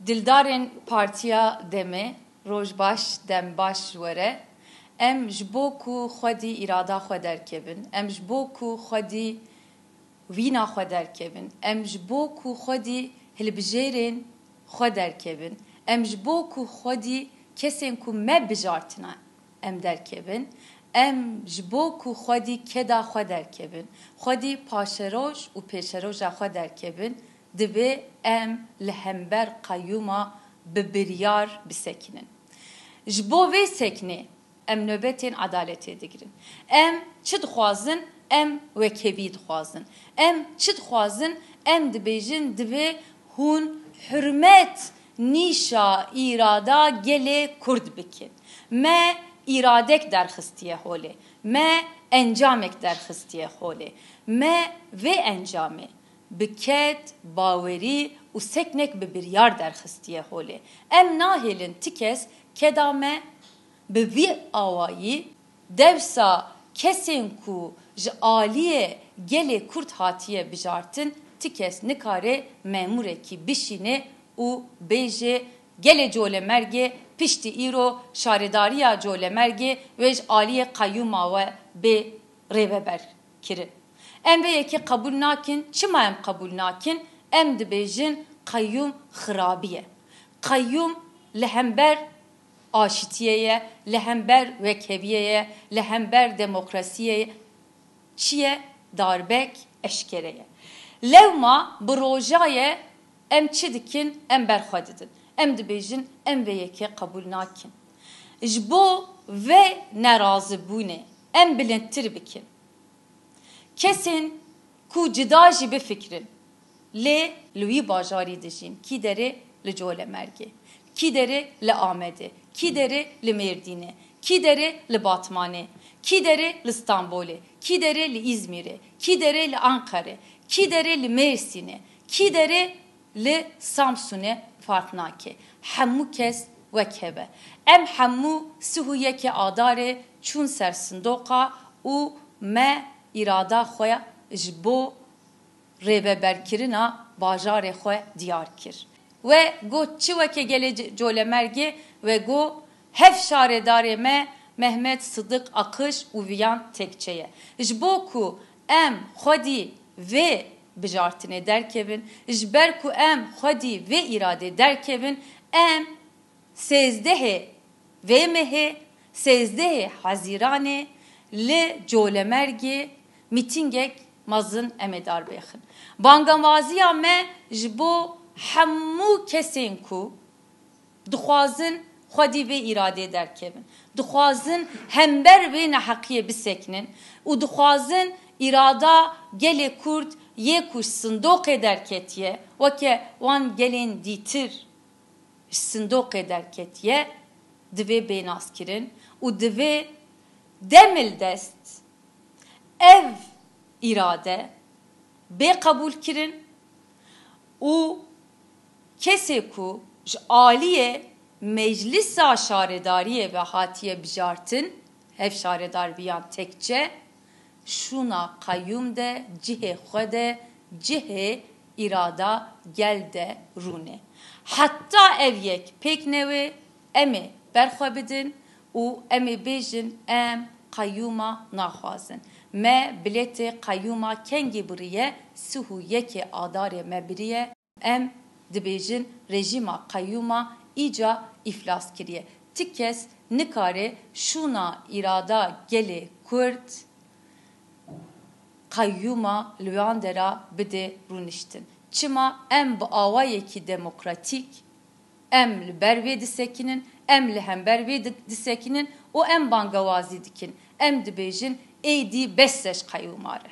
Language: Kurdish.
Dildarên Partiya Demê, Roj baş, dem baş ji we re. Em ji bo ku xwedî îrada xwe derkevin, em ji bo ku xwedî wîna xwe derkevin, em ji bo ku xwedî hilbijêrên xwe derkevin, em ji bo ku xwedî kesên ku me bijartine em derkevin, em ji bo ku xwedî keda xwe derkevin, xwedî paşeroj û pêşeroja xwe derkevin, Divê em li hember qeyûma bi biryar bisekinin. Ji bo vê sekinê em nobetên edaletê digirin. Em çi dixwazin em wekhevî dixwazin. Em çi dixwazin em dibêjin divê hûn hurmet nîşa îrada gelê Kurd bikin. Me îradek derxistiye holê. Me encamek derxistiye holê. Me vê encamê bi ked, bawerî û seknek bi biryar derxistiye holê. Em nahêlin ti kes keda me bi vî awayî dewsa kesên ku ji aliyê gelê Kurd hatiye bijartin ti kes nikare memûrekî bişîne û bêje gelê Colemergê piştî îro şaredariya Colemergê wê ji aliyê qeyûma we bê rêveber. kirin. Em vê yekê qebûl nakin, çima em qebûl nakin? Em dibêjin qeyûm xirabî ye. Qeyûm li hember aşitiyê ye, li hember wekheviyê ye, li hember demokrasiyê ye. Çi ye? Darbek eşkere ye. Lewma bi rojaye em çi dikin? Em ber xwe didin. Em dibêjin em vê yekê qebûl nakin. Ji bo vê nerazibûnê, Em bilindtir bikin. Kesên ku cuda jî bifikirin lê li wî bajarî dijîn, kî derê li Colemêrgê, kî derê li Amedê, kî derê li Mêrdînê, kî derê li Batmanê, kî derê li Stenbolê, kî derê li Îzmîrê, kî derê li Enqerê, kî derê li Mêrsînê, kî derê Li Samsunê farq nake. Hemû kes wek hev e. Em hemû sih û yekê Adarê çûn ser sindoqa û me îrada xwe ji bo rêveberkirina bajarê xwe diyar kir. We got çi weke gelê Colemergê we got hev şaredarê me Mehmet Sidik Akiş û viyan tekçe ye. Ji bo ku Em xwedî vê bijartinê derkevin, ji ber ku em xwedî vê îradê derkevin, em sêzdehê vê mehê, sêzdehê Hezîranê li Colemergê mîtîngek mezin em ê darbêxin. Bangavaziya me ji bo hemû kesên ku. Dixwazin xwedî vê îradeyê derkevin. Dixwazin hember vê neheqiyê bisekinin û dixwazin îrada gelê Kurd yê ku ji sindoqê derketiye, weke wan gelên dîtir ji sindoqê derketiye divê bênazkirin û divê demil dest ev îrade bê qebûlkirin û Kesê ku ji aliyê Meclisa Şaredariyê ve hatiye bijartin, hev şaredar biyan tekçe şûna qeyûm de cihê xwe de cihê îrada gel de rûn e. Heta ev yek pêk newê em ê berxwe bidin û em ê bêjin em qeyûma naxwazin. Me bilêtê qeyûma kengî biriye sih û yekê adarê me biriye. Em dibêjin rejîma qeyûma îca îflas kiriye. Ti kes nikare şûna îrada gelê Kurd qeyûma li wan de ra bide rûniştin. Çima em bi awayekî demokratîk em li ber wê disekinin, em li hember wê disekinin û em bangewazî dikin. Em dibêjin êdî bes e ji qeyûma re.